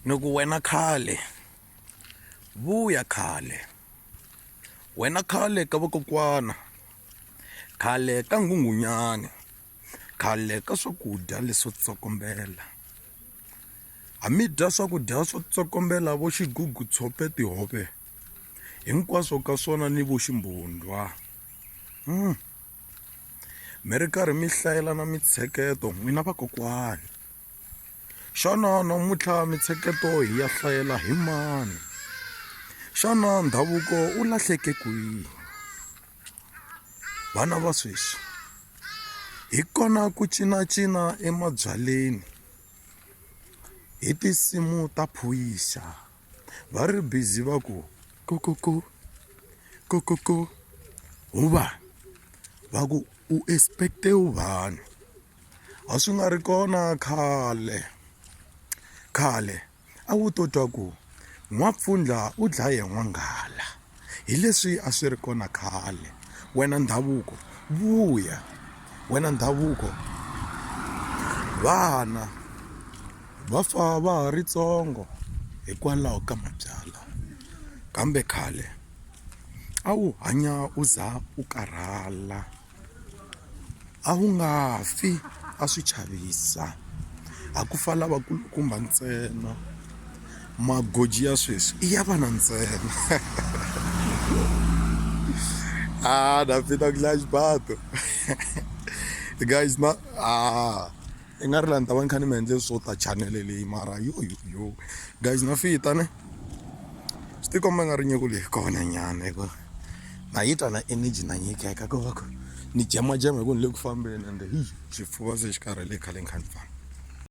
ni ku wena khale vuya khale wena khale ka vakokwana khale ka nghunghunyani khale ka swakudya leswo tsokombela ha mi dya swakudya swo tsokombela vo xigugu tshope tihove hinkwaswo ka swona ni vo ximbundwa mm. mi ri karhi mi hlayelana mintsheketo n'wina vakokwani xana namuntlha mintsheketo hi ya hlayela hi mani xana ndhavuko u lahleke kwihi vana va sweswi hi kona ku cinacina emabyaleni hi tinsimu ta phoyisa va ri bizi va ku kokoko kokoko huvani va ku u expecte uvani a swi nga ri kona khale khale a wu to twa ku n'wampfundla u dlaye n'wanghala hi leswi a swi ri kona khale wena ndhavuko vuya wena ndhavuko vana va fa va ha ri tsongo hikwalaho ka mabyalwa kambe khale a wu hanya u za u karhala. a wu nga fi a swi chavisa a ku fa lavakulukumba ntsena magoji ya sweswi i ya vana ntsena a na phinda ku dlaya xibato guys na a. I nga ri laha ni ta va ni kha ni mi endle swo ta chanel leyi mara yoyoyo guys na fita ne swi ti komba nga ri nyiko leyi kona nyana hi ku na yi twa na energy na nyikeka ko va ku ni jemajema hi ku ni le ku fambeni ende hi xifuva se xi karhele khale ni kha ni famba.